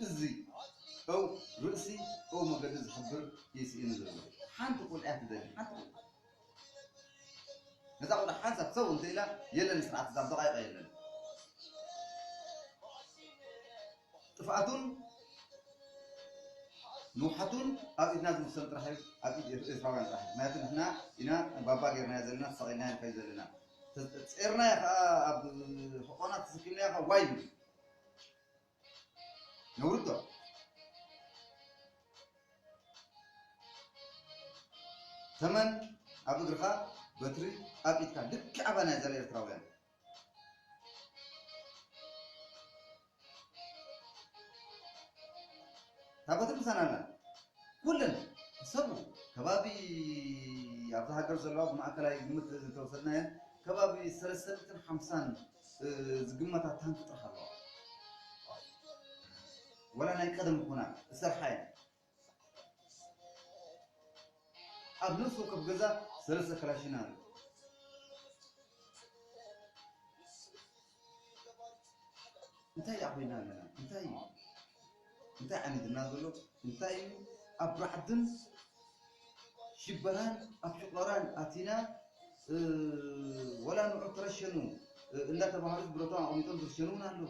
እዚ እው ርእሲ እው መገዲ ዝሕብር እዩ ስኢኑ ዘሎ ሓንቲ ቁልዕ እያ ትደሊ ሓንቲ ቁልዕ ነዛ ቁልዕ ሓንሳብ ሰው እንተኢላ የለን ስርዓት እዛ ደቃይቀ የለን ጥፍኣቱን ንውሓቱን ኣብ ኢድና ዝውሰን ጥራሕ እዩ ኣብ ኢድ ኤርትራውያን ጥራሕ እዩ ምክንያቱ ንሕና ኢና ባባ ጌርናዮ ዘለና ተሰቂልናዮ ንከይድ ዘለና ጼርናዮ ከኣ ኣብ ሕቆና ተሰኪምናዮ ከኣ ዋይ ንብል ነውሪ ዶ ተመን ኣብ እግርኻ በትሪ ኣብ ኢድካ ልክዕ ኣባና ዘለ ኤርትራውያን ታቦተ ቅዱሳን ኣላ ኩለን ሰቡ ከባቢ ኣብዚ ሃገር ዘለዋ ብማእከላይ ግምት እንተወሰድናየን ከባቢ ሰለስተ ሚእትን ሓምሳን እ፣ ዝግመታ ታንክ ጥራሕ ኣለዋ ወላ ናይ ቀደም ኮና ዝሰርሓ እየን ኣብ ነፍሲ ወከፍ ገዛ ሰለስተ ክላሽን ኣሎ። እንታይ ደኣ ኮይና ኣለና እንታይ እዩ እንታይ ዓይነት እና ዘሎ እንታይ እዩ ኣብ ራዕድን ሽበራን ኣብ ሽቆራን ኣቲና እ፣ ወላ ንዑ ተረሸኑ እ፣ እንዳተባሃሉ ብረቶም ኣቕሚጦም ዝርሸኑ እውን ኣለዉ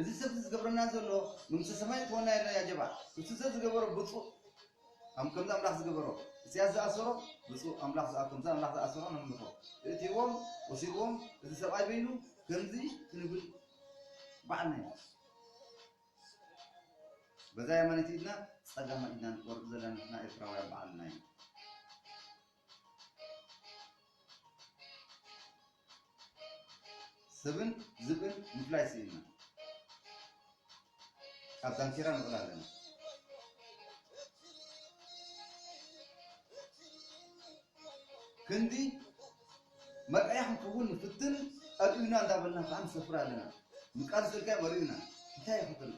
እዚ ሰብ እዚ ዝገብረና ዘሎ መንግስተ ሰማይ ክወና ይረኣ ያጀባ እሱ ሰብ ዝገበሮ ብፁእ ኣም ከምዚ ኣምላኽ ዝገበሮ እስያስ ዝኣሰሮ ብፁእ ኣምላኽ ዝኣ ከምዚ ኣምላኽ ዝኣሰሮ ነምልኾ እእትዎም ወሲድዎም እዚ ሰብኣይ በይኑ ከምዚ ክንብል በዓልና ኢና በዛ የማነይቲ ኢድና ጸጋማ ኢድና ንቆርጽ ዘለና ንሕና ኤርትራውያን በዓልና ኢና ሰብን ዝብእን ምፍላይ ስኢንና ካብ ዳንኬራ ንቕል ኣለና። ክንዲ መርኣያ ክንከውን ንፍትን ጠጢኡና እንዳበልና ከዓ ንሰፍር ኣለና። ምቃል ዘጋይ መሪኡና እንታይ ይኸተሉ?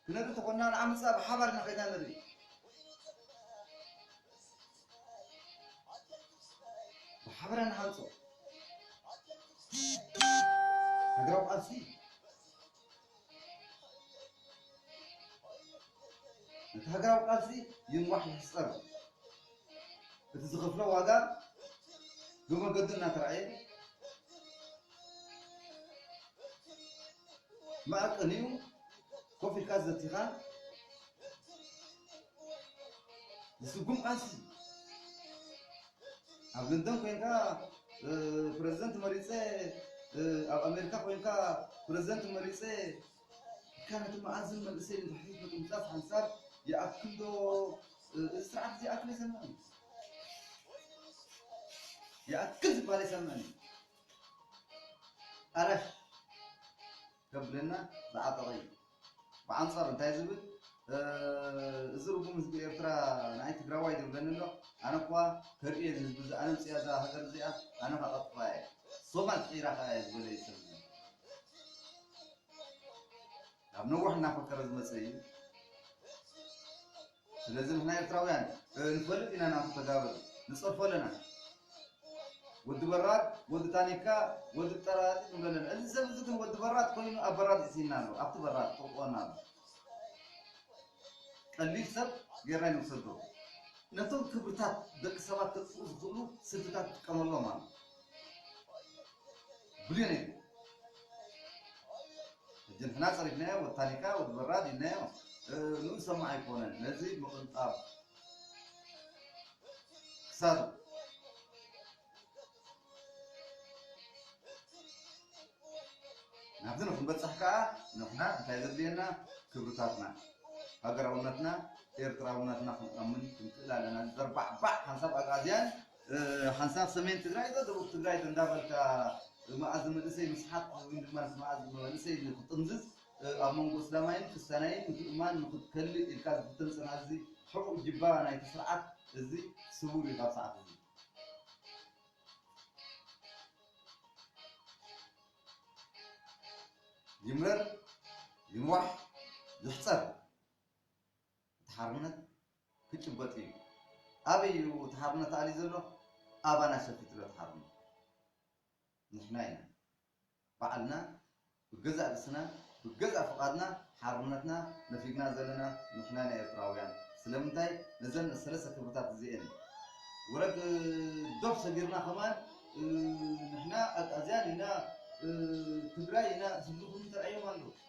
ክነብር ተኾንና ንዓመጽና ብሓባር ኢና ከይድና ንርኢ። ብሓበራ ንሃንጾ ሃገራዊ ቃልሲ ነቲ ሃገራዊ ቃልሲ ይንዋሕ ይሕጸር እቲ ዝኸፍሎ ዋጋ ብመገዱ እናተራእየ መዐቀኒ እዩ ኮፍ ኢልካ ዘቲኻ ዝስጉም ቃልሲ እዩ። ኣብ ለንደን ኮንካ እ፣ ፕረዚደንት መሪፀ እ፣ ኣብ ኣሜሪካ ኮንካ ፕረዚደንት መሪፀ ኢልካ ነቲ መኣዝን መንእሰይ ንታሕቲ ምጥምጣፍ ሓንሳብ ይኣክል ዶ እ፣ እዚ ስርዓት እዚ ይኣክል ኣይሰምዕን እዩ። ይኣክል ዝበሃል ኣይሰምዕን እዩ። ዕረፍ ከብለና ዝዓጠቐ እዩ። ብኣንጻሩ እንታይ ዝብል እዚ ርጉም ህዝቢ ኤርትራ ንኣይ ትግራዋይ ዝብለኒ ኣሎ ኣነ እኳ ከርእዮ እዚ ህዝቢ እዚ ኣነ ኣምጽኣ እዛ ሃገር እዚኣ ኣነ ከቐጥፋ እየ ሶማል ስዒራ ከኣ እየ ዝበለ እዩ ሰብ እዚ ካብ ነዋሕ እናፈከረ ዝመጸ እዩ ስለዚ ንሕና ኤርትራውያን ንፈልጥ ኢና ናቱ ተጋብር ንጸርፎ ኣለና ወዲ በራድ ወዲ ታኒካ ወዲ ጠራጢ ንብሎ ኣለና እዚ ሰብ እዚ ግን ወዲ በራድ ኮይኑ ኣብ በራድ ሒሲና ኣሎ ኣብቲ በራድ ጥቕጥቆና ኣሎ ቀሊል ሰብ ጌርና ንውሰዶ ነቶም ክብርታት ደቂ ሰባት ከጥፍኡ ዝኽእሉ ስልትታት ትጥቀመሎም ኣሎ ብልዮ ነይሩ ሕጂ ንሕና ጸሪፍናዮ ወዲ ታኒካ ወዲ በራድ ኢልናዮ ን ሰማዕ ኣይኮነን ነዚ ምቕንጣብ ክሳዱ ናብዚ ንክንበጽሕ ከኣ ንሕና እንታይ ዘድልየና ክብርታትና ሃገራውነትና ኤርትራውነትና ክንኣምን ክንክእል ኣለና ዘርባዕባዕ ሓንሳብ ኣግኣዝያን ሓንሳብ ሰሜን ትግራይ ዶ ደቡብ ትግራይ ዶ እንዳበልካ መኣዝ መንእሰይ ምስሓት ወይም ድማ መኣዝ መንእሰይ ንክጥምዝዝ ኣብ መንጎ እስላማይን ክስታናይን ምትእምማን ንክትከልእ ኢልካ ዝፍተን ፅናት እዚ ሕቡእ ጅባ ናይቲ ስርዓት እዚ ስውር እዩ ካብ ሰዓት እዚ ይምረር ይንዋሕ ይሕፀር እቲ ሓርነት ክጭበጥ እዩ ኣበይ እዩ እቲ ሓርነት ኣልዩ ዘሎ ኣባና ሸፊትሎ እቲ ሓርነት ንሕና ኢና ባዕልና ብገዛእ ርእስና ብገዛእ ፍቃድና ሓርነትና ነፊግና ዘለና ንሕና ኢና ኤርትራውያን ስለምንታይ ነዘን ሰለስተ ክብርታት እዚኤን ውረድ ዶብ ሰጊርና ከማን ንሕና ኣግኣዝያን ኢና ትግራይ ኢና ዝብሉ ክምንተርኣዮም ኣለዉ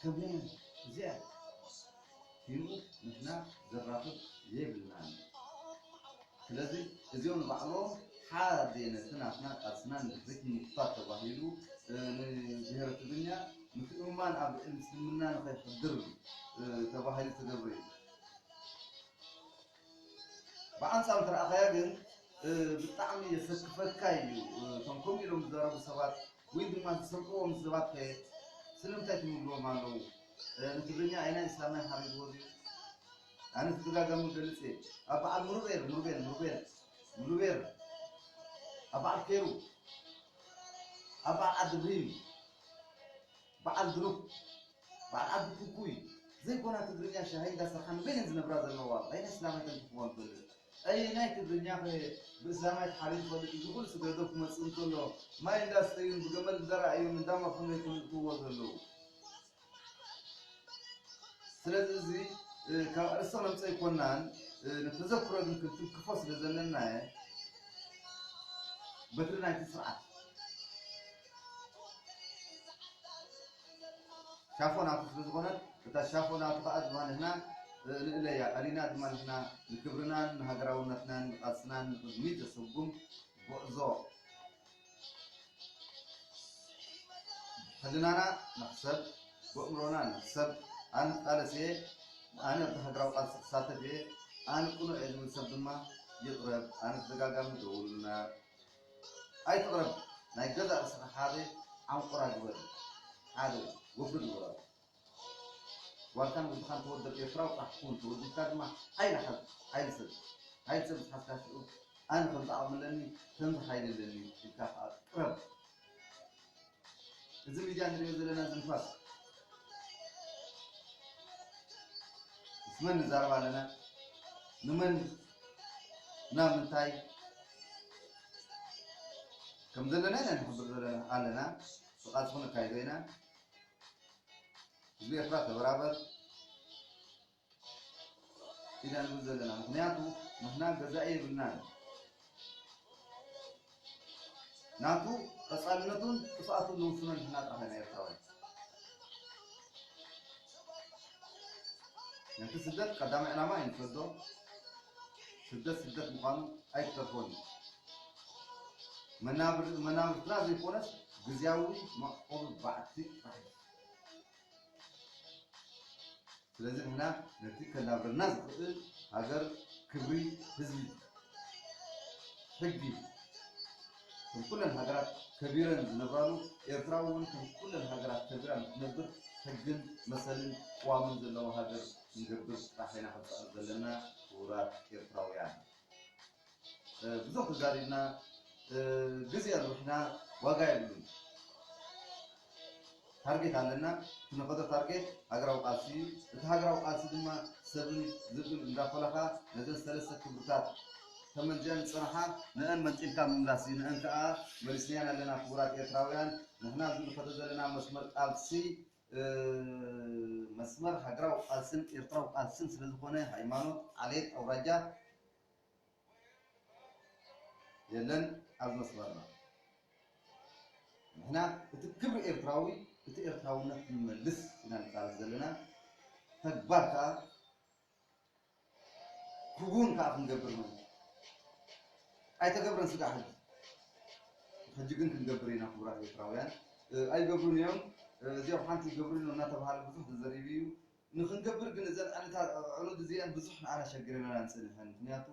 ትርጉም እዚኣን ሂሙ ንሕና ዘራኽብ የብልናን። ስለዚ እዚኦም ንባዕሎም ሓደ ነቲ ናትና ቃልስና ንድሕሪት ንምጉታት ተባሂሉ ንብሄረ ትግርኛ ምትእምማን ኣብ ልዕሊ ምስልምና ንኸይሕድር ተባሂሉ ዝተገብረ እዩ። ብኣንጻሩ እንተረኣኻያ ግን ብጣዕሚ የሰክፈካ እዩ እቶም ከምኡ ኢሎም ዝዛረቡ ሰባት ወይ ድማ ዝሰምዕዎም ሰባት ከ ስለምንታይ ትምግቦም ኣለዉ ንትግርኛ ኣይናይ እስላማይ ሓሪግዎ ድዩ ኣነ ተደጋጋሚ ገልጽ እየ ኣብ በዓል ሙሩቤል ሙሩቤል ሙሩቤል ሙሉቤር ኣብ በዓል ኬሩ ኣብ በዓል ዓዲ ብሪም በዓል ብሉግ በዓል ዓዲ ኩኩይ ዘይኮና ትግርኛ ሻሂ እንዳ ሰርሓ ንበይነን ዝነብራ ዘለዋ በይነ ስላማይ ተንክፍወን ትፈልጥ ኣየናይ ትግርኛ ከ ብእስላማይ ተሓቢኡ ይፈልጥ እዚ ኩሉ ስግረ ዶብ ክመጽእ እንከሎ ማይ እንዳ ስተዩን ብገመል እንዳ ረኣዩን እንዳ መርሑን ዶ ይፈልጥዎ ዘለዉ ስለዚ እዚ ካብ ኣርእስቶ ነምጾ ኣይኮናን ንተዘክሮ ግን ክንትንክፎ ስለ ዘለናየ በትሪ ናይቲ ስርዓት ሻፎ ናቱ ስለ ዝኾነት እታ ሻፎ ናቱ ከኣ ድማ ንሕና ንእለያ ቀሊና ድማ ንሕና ንክብርናን ንሃገራውነትናን ንቃልስናን ንቅድሚት ዘሰጉም ጉዕዞ ሕልናና ንሕሰብ ብእምሮና ንሕሰብ ኣነ ክቃለስ እየ ኣነ ኣብቲ ሃገራዊ ቃልሲ ክሳተፍ እየ ኣነ ቅኑዕ እየ ዝብል ሰብ ድማ ይቕረብ ኣነ ተደጋጋሚ ደውሉልና ኣይትቅረብ ናይ ገዛእ ርእስኻ ሓደ ዓንቁራ ግበር ሓደ ወግድ ንበራሉ ጓልካን ወድኻን ተወደብ ኤርትራዊ ጥራሕ ኩን ተወዲብካ ድማ ሓይሊ ሓዝ ሓይሊ ሰብ ሓይሊ ሰብ ምስ ሓዝካ ሽዑ ኣነ ከምዚ ዓቅሚ ኣለኒ ከምዚ ሓይሊ ኣለኒ ኢልካ ክኣ ቅረብ። እዚ ሚድያ ንሪኦ ዘለና እዚ ንፋስ ምስ መን ንዛረብ ኣለና ንመን ናብ ምንታይ ከም ዘለና ኢና ንሕብር ዘለና ኣለና ብቓልሲ ክንካይዶ ኢና ህዝቢ ኤርትራ ተበራበር ኢና ንብል ዘለና ምኽንያቱ ንሕና ገዛኢ የብልናን ናቱ ቀጻልነቱን ጥፍኣቱን ንውስኖ ንሕና ጥራሕ ኢና ኤርትራውያን ነቲ ስደት ቀዳማይ ዕላማ ኣይንሰዶ ስደት ስደት ምዃኑ ኣይተርፎን እዩ መናብርትና ዘይኮነስ ግዝያዊ መዕቆቢ ባዕቲ ጥራሕ እዩ ስለዚ ንሕና ነቲ ከናብረና ዝኽእል ሃገር ክብሪ ህዝቢ ሕጊ ከም ኩለን ሃገራት ከቢረን ዝነብራሉ ኤርትራ እውን ከም ኩለን ሃገራት ከቢራ ንክትነብር ሕግን መሰልን ቅዋምን ዘለዋ ሃገር ክንገብር ጥራሕ ኢና ክንጽዕር ዘለና ክቡራት ኤርትራውያን። ብዙሕ ተዛሪብና ግዜ ኣርቢሕና ዋጋ የብሉን ታርጌት ኣለና ክንኸዶ ታርጌት ሃገራዊ ቃልሲ እዩ እቲ ሃገራዊ ቃልሲ ድማ ሰብን ዝብን እንዳፈለኻ ነዘን ሰለስተ ክብርታት ተመንዚዐን ዝፀናሓ ንአን መንጢልካ ምምላስ እዩ ንአን ከዓ መሊስናያን ኣለና ክቡራት ኤርትራውያን ንሕና እዚ ንኸዶ ዘለና መስመር ቃልሲ መስመር ሃገራዊ ቃልስን ኤርትራዊ ቃልስን ስለዝኾነ ሃይማኖት ዓሌት ኣውራጃ የለን ኣብ መስመርና ንሕና እቲ ክብሪ ኤርትራዊ እቲ ኤርትራውነት ክንመልስ ኢና ንቃለስ ዘለና ተግባር ከኣ ክውን ከኣ ክንገብር ኢና ኣይተገብረን ስጋዕ ሕጂ ሕጂ ግን ክንገብር ኢና ክቡራት ኤርትራውያን ኣይገብሩን እዮም እዚኦም ሓንቲ ይገብሩ እናተባሃለ ብዙሕ ተዘሪቡ እዩ ንክንገብር ግን እዘን ዕለታት ኣዕሩድ እዚኤን ብዙሕ ንዓና ሸግረናናን ጸኒሐን ምክንያቱ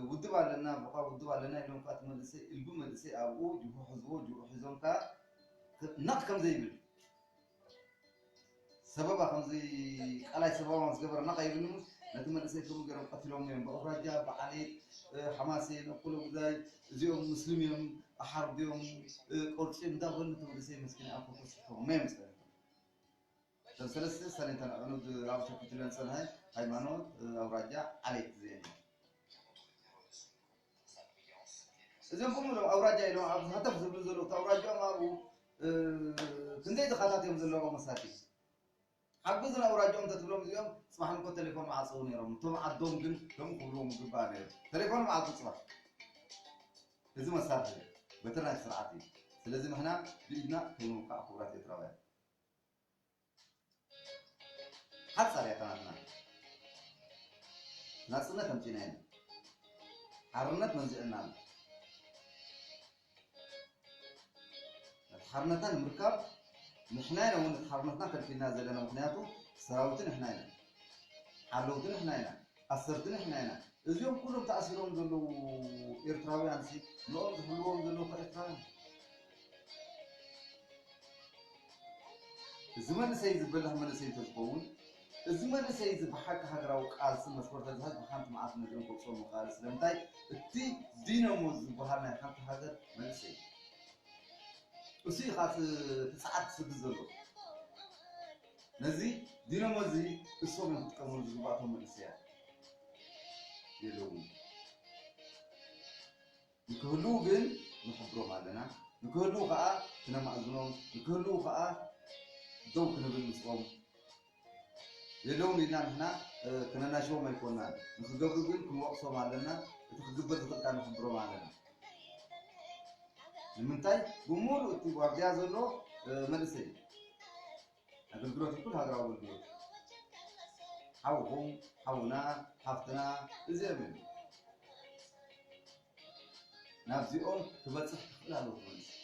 ውድብ ኣለና ቦካ ውድብ ኣለና ኢሎም ከኣ እቲ መንእሰይ እልቢ መንእሰይ ኣብኡ ጅሆ ሕዝዎ ጅሆ ሒዞም ከኣ ነቅ ከምዘይብል ሰበባ ከምዘይ ቃላይ ሰበባ ዝገበረ ነቅ ኣይብልሙስ ነቲ መንእሰይ ከምኡ ገይሮም ቀትሎሞ እዮም ብኣውራጃ ብዓሌት ሓማሴን ኣኮሎጉዛይ እዚኦም ምስልም እዮም ኣሓርድዮም ቆርጺም እንዳበሉ እቲ መንእሰይ መስኪን ኣኮኮ ስሕቶሞ እዮም ጸኒሖም እተን ሰለስተ ሰሌንተን ኣዕኑድ ኣብ ሸኲትለን ጸንሐ፣ ሃይማኖት፣ ኣውራጃ፣ ዓሌት እዚኤን እየን። እዚኦም ብምሉኦም ኣውራጃ ኢሎም ኣብ ሃተፍ ዝብሉ ዘለዉ እቲ ኣውራጅኦም ኣብኡ ክንደይ ድኻታት እዮም ዘለዉ መሳቲ ሓግዙን ኣውራጅኦም እንተትብሎም እዚኦም ፅባሕ ንኮ ቴሌፎን መዓፀው ነይሮም እቶም ዓዶም ግን ከምኡ ክብልዎም ይግባእ ነይሩ ቴሌፎን መዓፁ ፅባሕ እዚ መሳርሒ በትሪ ናይቲ ስርዓት እዩ ስለዚ ንሕና ብኢድና ከይንውቃዕ ክቡራት ኤርትራውያን ሓጻር እያ ታናትና ናጽነት ኣምጺእና ኢና ሓርነት መንዚዕና ኣሎ ነቲ ሓርነትና ንምርካብ ንሕና ኢና እውን ነቲ ሓርነትና ከልኪልና ዘለና ምክንያቱ ሰራዊት ንሕና ኢና ሓለውቲ ንሕና ኢና ኣሰርቲ ንሕና ኢና እዚኦም ኩሎም ተኣሲሮም ዘለዉ ኤርትራውያን ሲ ንኦም ዝሕልዎም ዘለዉ ከ ኤርትራውያን ዲዮም። እዚ መንእሰይ እዚ በላህ መንእሰይ እንተዝኸውን እዚ መንእሰይ እዚ ብሓቂ ሃገራዊ ቃልሲ መስመር ተዝሓዝ ብሓንቲ መዓልቲ ነዚኦም ከውጽኦም ምኸኣለ ስለምንታይ እቲ ዲነሞ ዝብሃል ናይ ሓንቲ ሃገር መንእሰይ እዩ እሱ እዩ ከኣ እቲ እቲ ጸዓት ዝስድድ ዘሎ። ነዚ ዲኖሞ እዚ እሶም እዮም ክጥቀምሉ ዝግባእ እቶም መንእሰያት የለውን ንክህልው ግን ንሕብሮም ኣለና ንክህልው ከዓ ክነማእዝኖም ንክህልው ከዓ ደው ክንብል ምስኦም የለውን ኢልና ንሕና ክነናሽቦም ኣይኮናን ንክገብሩ ግን ክንወቅሶም ኣለና እቲ ክግበር ዝኽእል ከዓ ንሕብሮም ኣለና ንምንታይ ብሙሉእ እቲ ዋርድያ ዘሎ መንእሰይ ኣገልግሎት ይኩን ሃገራዊ ኣገልግሎት ሓውኹም ሓውና ሓፍትና እዚኦም እዮም ናብዚኦም ክበፅሕ ክኽእል ኣለዎ መንእሰይ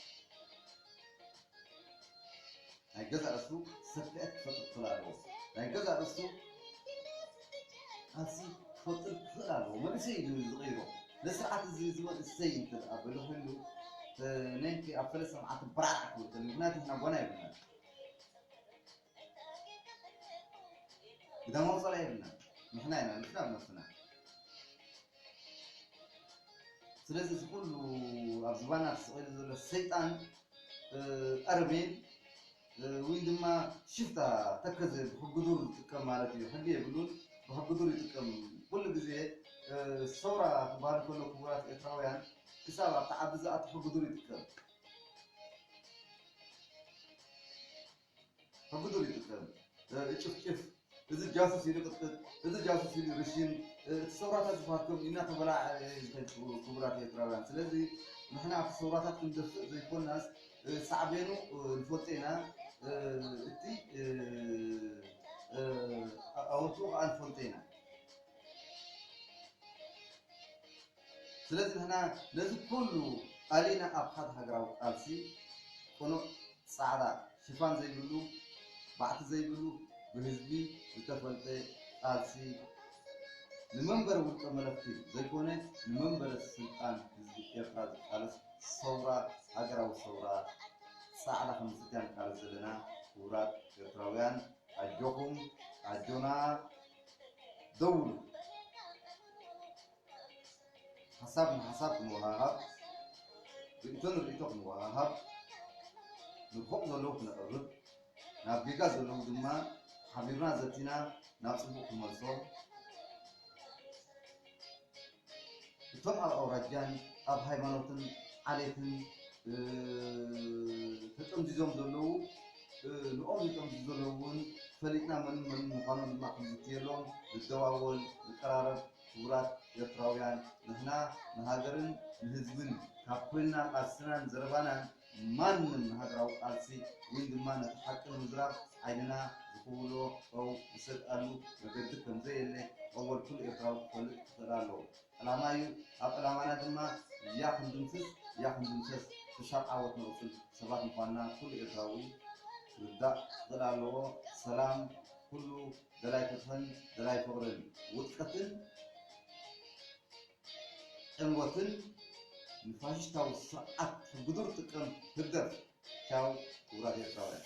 ናይ ገዛእ ርእሱ ሰፍኤት ክፈጥር ክኽእል ኣለዎ። ናይ ገዛእ ርእሱ ቃልሲ ክፈጥር ክኽእል ኣለዎ። መንእሰይ እዩ ዝቕይሮ። ነዚ ስርዓት እዚ እዚ መንእሰይ እንተ ደኣ በሊሑሉ ነንኪ ኣብ ሰለስተ መዓልቲ በራዕ ክብል ከሎ ምክንያቱ ንሕና ጓና የብልናን ግዳማዊ ጸላኢ የብልናን ንሕና ኢና ንሕና ኣብ ነብስና ስለዚ እዚ ኩሉ ኣብ ዝባና ተሰቒሉ ዘሎ ሰይጣን ኣረሜን ውይ ድማ ሽፍታ ተከዘ ብሕጉዱር ዝጥቀም ማለት እዩ ሕጊ የብሉን ብሕጉዱር ይጥቀም ኩሉ ግዜ ሰውራ ክበሃል ከሎ ክቡራት ኤርትራውያን ክሳብ ኣብቲ ዓዲ ዝኣቱ ሕጉዱር ይጥቀም ሕጉዱል ይግጠም እጭፍጭፍ እዚ ጃሱስ ኢሉ ቅጥቅጥ እዚ ጃሱስ ኢሉ ርሽን እቲ ሰውራታት ዝፋትኩም ኢና ተበላዕ ዝኸድ ክቡራት ኤርትራውያን ስለዚ ንሕና ኣብቲ ሰውራታት ክንደፍእ ዘይኮናስ ሳዕቤኑ ንፈልጦ ኢና እቲ ኣወትኡ ከዓ ንፈልጦ ኢና ስለዚ ንሕና ነዚ ኩሉ ኣሊና ኣብ ሓደ ሃገራዊ ቃልሲ ቅኑዕ ጻዕዳ ሽፋን ዘይብሉ ባዕቲ ዘይብሉ ብህዝቢ ዝተፈልጠ ቃልሲ ንመንበሪ ውልቀ መለኽቲ ዘይኮነ ንመንበረ ስልጣን ህዝቢ ኤርትራ ዝቃለስ ሰውራ ሃገራዊ ሰውራ ጻዕዳ ክንምስርት ኢና ንቃለስ ዘለና ክቡራት ኤርትራውያን ኣጆኹም ኣጆና ደውሉ ሓሳብ ንሓሳብ ክንወሃሃብ፣ ርእይቶ ንርእይቶ ክንወሃሃብ፣ ንፉዕ ዘለዉ ክነቕርብ፣ ናብ ጌጋ ዘለዉ ድማ ሓቢርና ዘቲና ናብ ጽቡቕ ክንመልሶ፣ እቶም ኣብ ኣውራጃን ኣብ ሃይማኖትን ዓሌትን ተጠምዚዞም ዘለዉ ንኦም ዝጠምዙ ዘለዉ እውን ፈሊጥና መንን መንን ምዃኖም ድማ ክንዝትየሎም፣ ንደዋወል፣ ንቀራረብ፣ ክቡራት ኤርትራውያን ንሕና ንሃገርን ንህዝብን ካብ ኮይንና ቃልስናን ዘረባናን ማንም ንሃገራዊ ቃልሲ ወይ ድማ ነቲ ሓቂ ንምዝራብ ዓይንና ዝኹብሎ ጨው ዝሰትኣሉ መገዲ ከምዘየለ ኣወል ኩሉ ኤርትራዊ ክፈልጥ ክኽእል ኣለዎ ዕላማ እዩ ኣብ ዕላማና ድማ ያኽ ክንድምስስ ያኽ ክንድምሰስ ክሻብ ዓወት ንቕጽል ሰባት ምዃንና ኩሉ ኤርትራዊ ክርዳእ ክኽእል ኣለዎ ሰላም ኩሉ ደላይ ፍትሕን ደላይ ፍቕርን ውድቀትን ዕንወትን ንፋሽሽታዊ ስርዓት ሕግዱር ጥቅም ህግደፍ ቻው ክቡራት ኤርትራውያን።